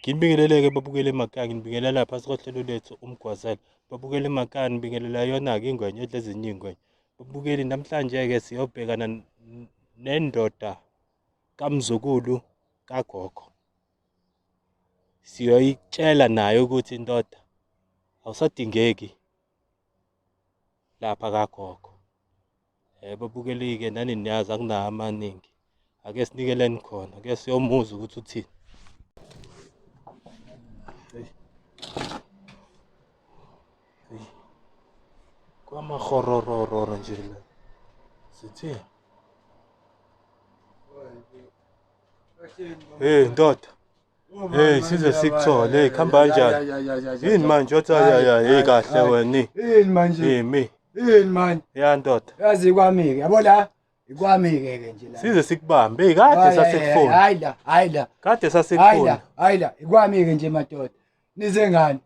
Nginibingelele-ke babukele emakhaya, nginibingelela phasi kohlelo lethu uMgwazela. Babukele emakhaya, nibingelela yona-ke ingwenya edla ezinye iy'ngwenya. Babukeli, namhlanje-ke siyobhekana nendoda kamzukulu kagogo. siyoyitshela naye ukuthi indoda awusadingeki lapha kagogo yebo bukelike nani niyazi akunawo amaningi ake sinikeleni khona ke siyomuza ukuthi uthini kwamahororororo nje la sithini Hey ndoda. Hey size sikuthole. Hey khamba kanjani? Yini manje othi ya ya hey kahle wena. Yini manje? Yimi. Yini manje? Ya ndoda. Yazi kwami ke. Yabo la. Ikwami ke ke nje la. Size sikubambe. Hey kade sasekufona. Hayi la, hayi la. Kade sasekufona. Hayi la, hayi la. Ikwami ke nje madoda. Nize ngani?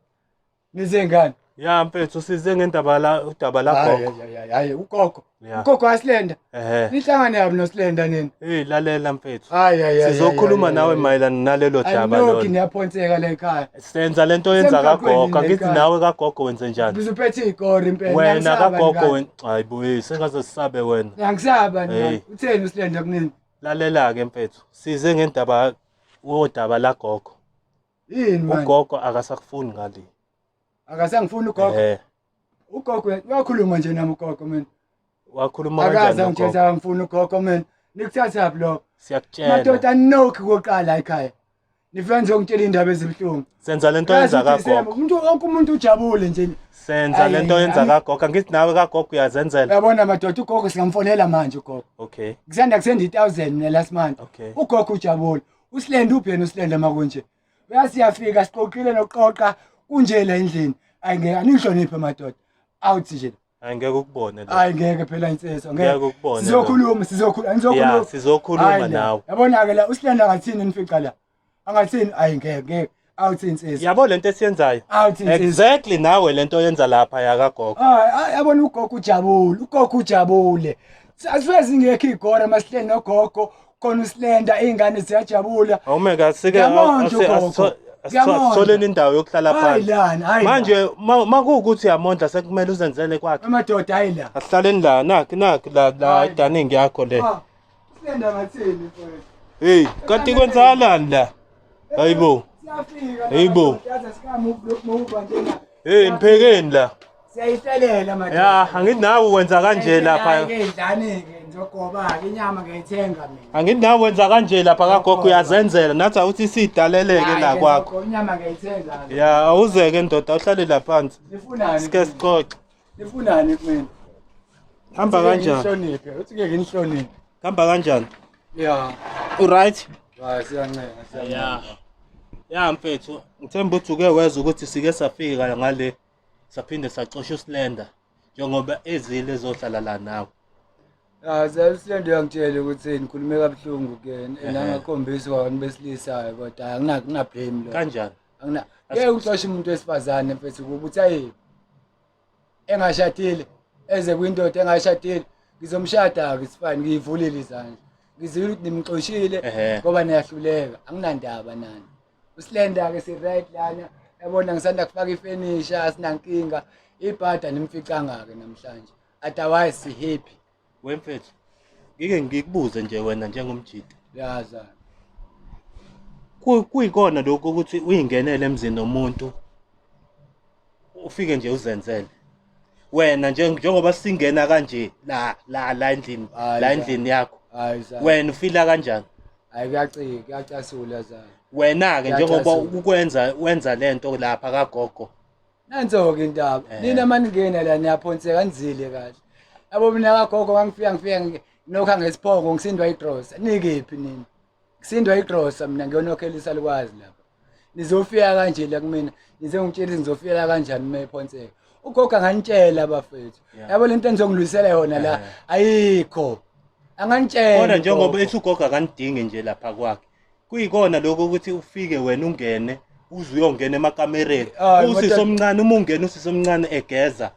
Nize ngani? Ya mfethu size ngendaba la udaba la gogo. Hayi hayi ugogo. Ugogo wasilenda. Ehhe. Nihlangane yabi nosilenda nini? Hey lalela mfethu. Hayi hayi hayi. Sizokhuluma nawe mayelana nalelo daba lona. Ayinoki niyaphonseka la ekhaya. Senza lento yenza kagogo. Ngithi nawe kagogo wenze njani? Ngizophethe igori impela. Wena kagogo wena. Hayi boy sengaze sisabe wena. Ngiyakusaba nina. Utheni usilenda kunini? Lalela ke mfethu. Size ngendaba wodaba la gogo. Yini manje? ugogo akasakufuni ngale Akasangifuni ugogo. eh Ugogo wakhuluma nje nami ugogo mina. wakhuluma Akaze kanjani angitshela ugogo angifuni ugogo mina. Nikuthathaphi lokho? siyakutshela Madoda nokhi koqala ekhaya. Nifika ngizongitshela indaba ezibuhlungu. senza lento Kazi yenza ukuthi kagogo Zema, Umuntu wonke umuntu ujabule nje. senza Ayi, lento yenza ayi. kagogo angithi nawe kagogo uyazenzela Yabona madoda ugogo singamfonela manje ugogo. okay Kusanda kusenda i1000 mina last month. Okay. Ugogo ujabule. usilende ubheni usilende makunje uyasiyafika siqoqile nokuqoqa kunje la endlini ayi ngeke anihloniphe madoda awuthi nje Hayi ngeke ukubone lo. Hayi ngeke phela insizwa ngeke. Ngeke ukubone. Sizokhuluma sizokhuluma anizokhuluma. Yeah sizokhuluma nawe. Yabona ke la usilanda ngathini nifica la. Angathini ayi ngeke ngeke. awuthi insizwa yabo lento esiyenzayo awuthi insizwa exactly nawe lento yenza lapha yakagogo hayi yabona ugogo ujabule ugogo ujabule asuke zingekho igora masihleli nogogo khona usilenda izingane ziyajabula awume kasike asitholeni indawo yokuhlala phansi manje makuwukuthi yamondla sekumele uzenzele kwakhe amadoda hayi la asihlaleni la nakhi nakhi la la ah, dining yakho le ah. Silenda ngathini mfowethu. Hey, kanti kwenzakalani la? Hayibo. Siyafika. Hayibo. Yazi sikamu ukuba nje la. Hey, mphekeni la. Siyayitelela manje. Ya, anginawo kwenza kanje lapha. Ngidlani ke ngizogoba ke inyama ngiyithenga mina. Anginawo kwenza kanje lapha kagogo uyazenzela nathi awuthi sidaleleke la kwakho. Inyama ngiyithenga. Ya, awuzeke ndoda uhlale lapha phansi. Sifunani? Sike sixoxe. Nifunani kumina? Hamba kanjani? Ngihloniphe, uthi ngeke ngihloniphe. Hamba kanjani? Yeah. U right? Hayi siyancenga, Yeah. siyancenga. Ya mfethu, ngithemba ukuthi uke wezwa ukuthi sike safika ngale saphinde sacosha uSlender njengoba ezile ezohlala la nawe. Ah, siyasiyanda uyangitshela ukuthi ngikhulume kabuhlungu ke Ehhe. nangakhombisa kwabantu besilisa kodwa angina ngina blame lo. Kanjani? angina ngeke uxoshe umuntu wesifazane mfethu kuba uthi ayi engashadile eze kwindoda engashadile ngizomshada-ke sifane ngiyivulile izandla ngizile ukuthi nimxoshile ngoba niyahluleka anginandaba nani usilenda-ke si-right lana yabona ngisanda kufaka ifenisha asinankinga ibhada nimficanga-ke namhlanje otherwise si-happy Wemfethu, ngike ngikubuze nje wena njengomjita. Yaza. Ku- Kuyikona lokho ukuthi uyingenele emzini womuntu ufike nje uzenzele. Wena nje njengoba singena kanje la la la endlini Hayi, la cha. endlini yakho. Hayi za. Wena ufila kanjani? Hayi kuyacika, kuyacasula za. Wena ke njengoba Kuyacasula. ukwenza wenza lento lapha kagogo Nanso-ke intaba. Eh. Nina maningena la niyaphonseka nizile kahle. Yabo mina kagogo ngangifika ngifika ngi- nokha ngesiphongo ngisindwa igrosa. Nikephi nina? Ngisindwa igrosa mina ngiyonokhela isalukwazi lapha. Nizofika kanje la kumina. Nize ngitshela ukuthi nizofika la kanjani uma ephonseka. Ugogo anganitshela bafethu. Yeah. Yabo lento enizongilwisela yona la Eh. ayikho. Anganitshela. Kodwa njengoba ugogo. ethi ugogo akanidingi nje lapha kwakhe. kuyikona lokho ukuthi ufike wena ungene uze uyongena emakamereni Hayi, usisi madoda. omncane uma ungena usisi omncane egeza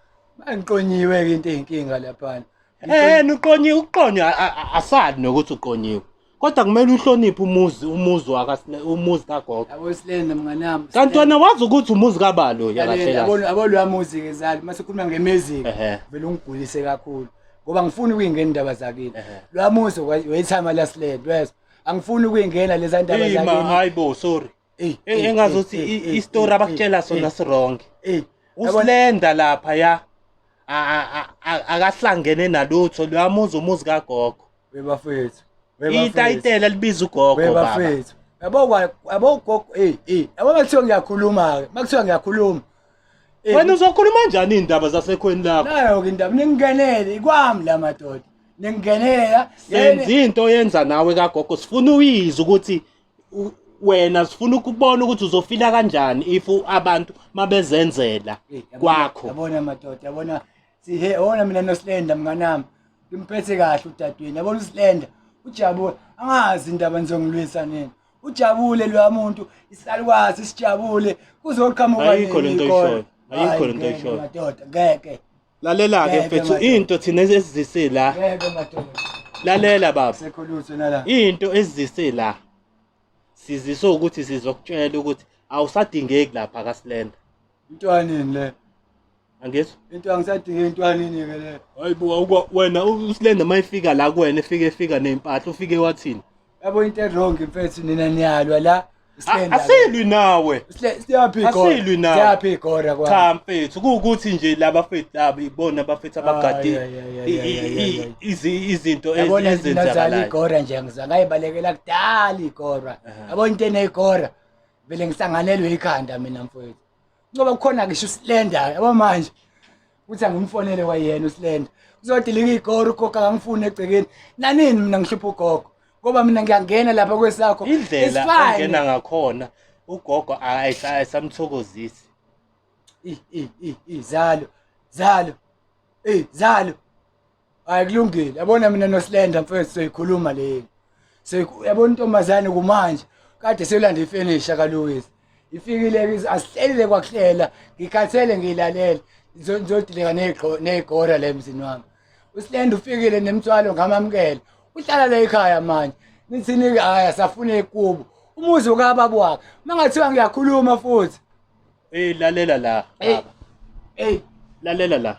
Angiqonyiwe-ke into eyinkinga laphana. Eh uqonye uqonye a- a- a- asali nokuthi uqonyiwe. Kodwa kumele uhloniphe umuzi umuzi waka umuzi kagogo. Yabo silenda mnganami. Kanti wena wazi ukuthi umuzi kabalo yakahle. Yabona abolwa music ezali mase khuluma ngemiziki. Ehhe. Vele ungigulise kakhulu. Ngoba ngifuna ukuyingena indaba zakini. Ehhe. Lwa muzi wayithama lasilenda wezwa. angifuni ukuyingena leza ndaba Hey ma hayi bo sorry. Eh engazothi istory abakutshela sona sirong. Eh usilenda lapha ya akahlangene nalutho lwamuza umuzi kagogo. Bebafethu. Itayitela libiza ugogo baba. Bebafethu. Yabo kwa yabo gogo eh eh yabo makuthiwa ngiyakhuluma ke makuthiwa ngiyakhuluma. Eh, Wena uzokhuluma njani indaba zasekhweni lakho? Nayo ke indaba ningenele ikwami la madoda. ningenela senza into oyenza nawe kagogo sifuna uyizwe ukuthi u- wena sifuna ukubona ukuthi uzofila kanjani if u- abantu mabezenzela kwakho yabona madoda yabona sihe ona mina nosilenda mnganami ngimphethe kahle udadweni yabona usilenda ujabule angazi indaba nizongilwisa nini ujabule loya muntu isalukwazi sijabule kuzoqhamuka Ayikho lento oyishoyo. Ayikho lento oyishoyo. madoda ngeke Lalela-ke Ngeke, mfethu madoda. into thina esizise la. Ngeke madoda. Lalela baba. Sekho lutho nala. Into esizise la. Sizise ukuthi sizokutshela ukuthi awusadingeki lapha kaSlenda. Intwanini le. Angizwa. Into angisadinge intwanini ke le. Hayibo awukwa- wena uSlenda mayifika la kuwena efike efika nezimpahla ufike wathini? yabo into erong mfethu nina niyalwa la A- asilwi nawe siyaphi asilwi nawe. siyaphi igora kwa cha mfethu kuwukuthi nje laba fethu laba ibona abafethu abagade Ay, ay, ay, ay, i- ay, i- ay, i- ay. izi- izinto ez- yabona nina zala ezenzakalayo igora nje ngiza ngayibalekela kudala igora Aha. yabona into eneyigora vele ngisanganelwe ikhanda mina mfowethu ngoba kukhona ngisho isilenda yabo manje uthi angimfonele kwayena usilenda uzodilika igoro ugogo akangifuni egcekeni nanini mina ngihlupha ugogo ngoba mina ngiyangena lapha kwesakho indlela ongena ngakhona ugogo ayisamthokozisi izalo zalo ey zalo hayi kulungile yabona mina nosilenda mfethu soyikhuluma leli yabona intombazane kumanje kade selanda ifenisha kaluwisi ifikile asihlelile kwakuhlela ngikhathele ngiyilalele ngizodileka neyigora le mzini wami usilenda ufikile nemthwalo ngamamukela uhlala la ekhaya manje nithini-ke hhayi asafune ikubo umuzi ukababa wakhe uma ngathiwa ngiyakhuluma futhi eyi lalela la baba eyi lalela la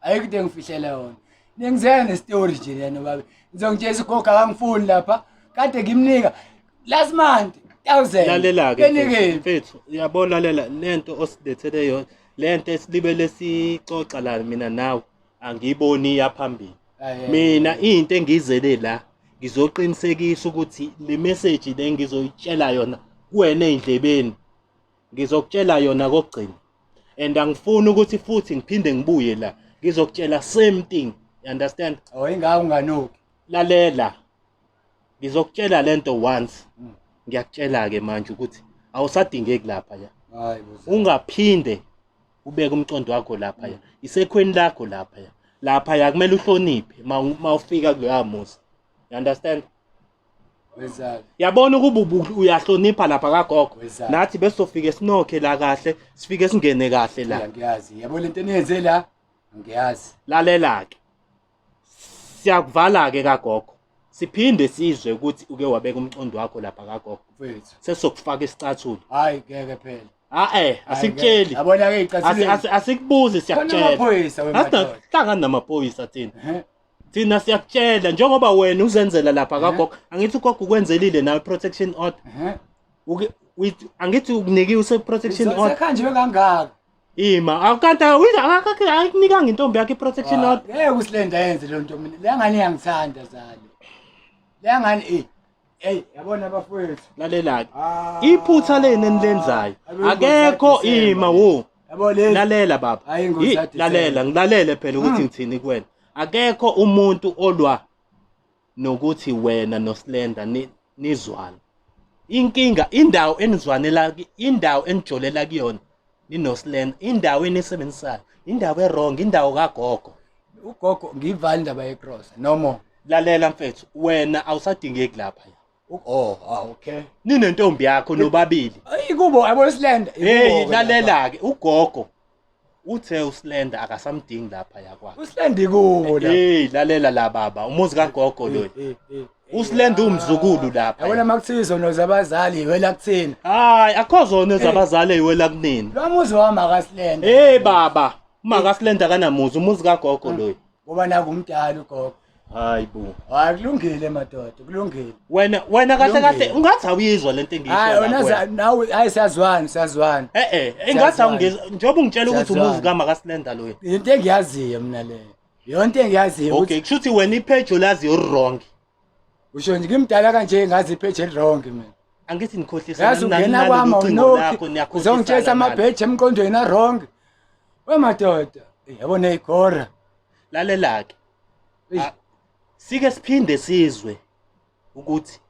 ayikho into engifihlele yona nengizela nestori nje lena babe ngizongitshela ugogo akangifuni lapha kade ngimnika last month thousand lalela-ke benikephi mfethu uyabona lalela lento osilethele yona lento esilibele sixoxa la mina nawe angiyiboni iyaphambili Aye. mina into engizele la ngizoqinisekisa ukuthi le message le ngizoyitshela yona kuwena ey'ndlebeni ngizokutshela yona kokugcina and angifuni ukuthi futhi ngiphinde ngibuye la ngizokutshela same thing you understand oh ingaka unganuki lalela ngizokutshela lento once hmm. ngiyakutshela ke manje ukuthi awusadingeki lapha ya ungaphinde ubeke umcondo wakho lapha ya hmm. isekhweni lakho lapha ya lapha ya kumele uhloniphe mawufika kuloya musa you understand yabona ukuba uyahlonipha lapha kagogo nathi besizofike sinokhe la kahle sifike singene kahle la ngiyazi yabo lento eniyenze la ngiyazi lalela-ke siyakuvala-ke kagogo siphinde sizwe ukuthi uke wabeka umcondo wakho lapha kagogo mfethu sesizokufaka isicathulo hayi ngeke phela a-e asikutsheli yabona-ke iy'cathuleni asikubuzi siyakutshela asinamaphoyisa wemhlangani namaphoyisa thina thina siyakutshela njengoba wena uzenzela lapha Ehe. kagogo angithi ugogo ukwenzelile nawe protection order Ehhe. Uke- uyi- angithi ukunikiwe use-protection order Sekhanjwe kangaka. ima akanti akunikanga intombi yakhe i-protection order Ngeke usilenda yenze le nto mina. Le ngane iyangithanda zalo. Le ngane eh Hey, yabona bafowethu. Lalelani. Ah. Iphutha leni enilenzayo. Akekho ima wo. Yabo lezi. Lalela baba. Hayi ngozi athi. Lalela, ngilalele phela ukuthi hmm. ngithini kuwena. Akekho umuntu olwa nokuthi wena noSlenda nizwana. Inkinga indawo enizwanela indawo enijolela kuyona ninoslena indawo enisebenzisayo indawo erong indawo kagogo ugogo ngiyivala indaba yecross no more lalela mfethu wena awusadingeki lapha Oh, ah, okay. Ninentombi yakho nobabili. Ikubo yabo islanda. Hey, lalela ke ugogo. Uthe uslanda akasamdingi lapha yakwakhe. Uslanda ikubo la. Hey, lalela la baba, umuzi kagogo lo. usilenda umzukulu lapha yabona makuthiwa izono zabazali iwela kuthina hayi akho zono zabazali iwela kunini lo muzi wami akasilenda hey baba uma akasilenda kanamuzi umuzi kagogo loyo ngoba naku umdala ugogo hayi bo hayi kulungile madoda kulungile wena wena kahle kahle ungathi awuyizwa lento engiyisho hayi wena nawe hayi siyazwana siyazwana eh eh engathi awungizwa njengoba ungitshela ukuthi umuzi kama kasilenda loyo into engiyaziyo mina leyo yonke engiyaziyo ukuthi okay kushuthi wena ipage olaziyo wrong usho nje ngimdala kanje ngazi ipage wrong mina angithi nikhohlisa yazi ungena kwami awunokhi uzongitshesa amabheji emqondweni awrong wemadoda yabo neyigora lalelake ah, sike siphinde sizwe ukuthi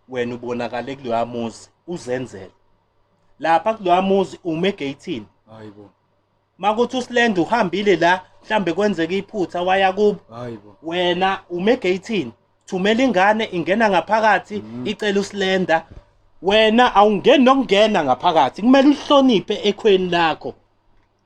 wena ubonakale kuloya muzi uzenzele lapha kuloya muzi ume gate hayibo makuthi uslend uhambile la mhlambe kwenzeka iphutha waya kubo hayibo wena ume gateini thumela ingane ingena ngaphakathi mm. icela uslenda wena awungeni nokungena ngaphakathi kumele uhloniphe ekhweni lakho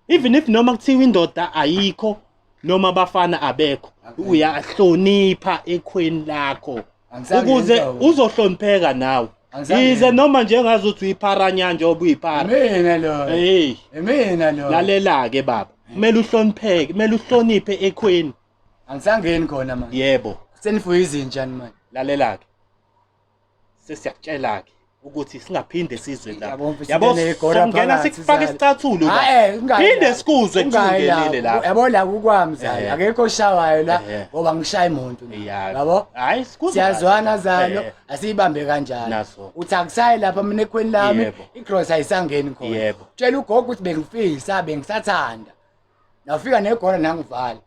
even if noma kuthiwa indoda ayikho noma abafana abekho uyahlonipha ekhweni lakho Angizange ukuze ngenza ukuthi- uzohlonipheka nawe Angizange yize ngenza- noma njengazi ukuthi uyipharanya njengoba uyiphara Imina lo. hey Imina lo. lalela-ke baba kumele uhlonipheke kumele uhloniphe ekhweni Angisangeni khona manje. yebo Senifuye izinja ni manje. lalela-ke sesiyakutshela-ke ukuthi singaphinde sizwe la Yabo, mfethu, yabo ngene igora sokungena phakathi, sikufake zala. isicathulo la Ah, eh, ungayi phinde la. sikuzwe Ungayi la. kusungenile la yabo la kukwami zalo Eh. akekho oshawayo la Eh. ngoba ngishaye muntu la. Ya. yabo hayi sikuzwe siyazwana kahle. zalo Eh, asiyibambe kanjalo Naso. uthi akusayi lapha mina ekhweni lami Yebo. igross ayisangeni khona Yebo. tshela ugogo ukuthi bengifisa bengisathanda nafika negora nangivala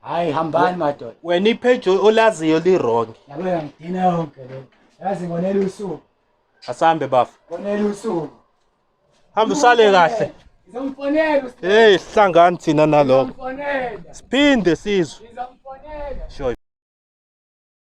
hayi hambani madoda wena ipage olaziyo li-wrong yabo yangidina yonke le yazi ngonela usuku asambe bafa ngonela usuku hamba usale kahle ngizomfonela uSteve. hey sihlangani thina nalokho Ngizomfonela. siphinde sizwe Ngizomfonela. sure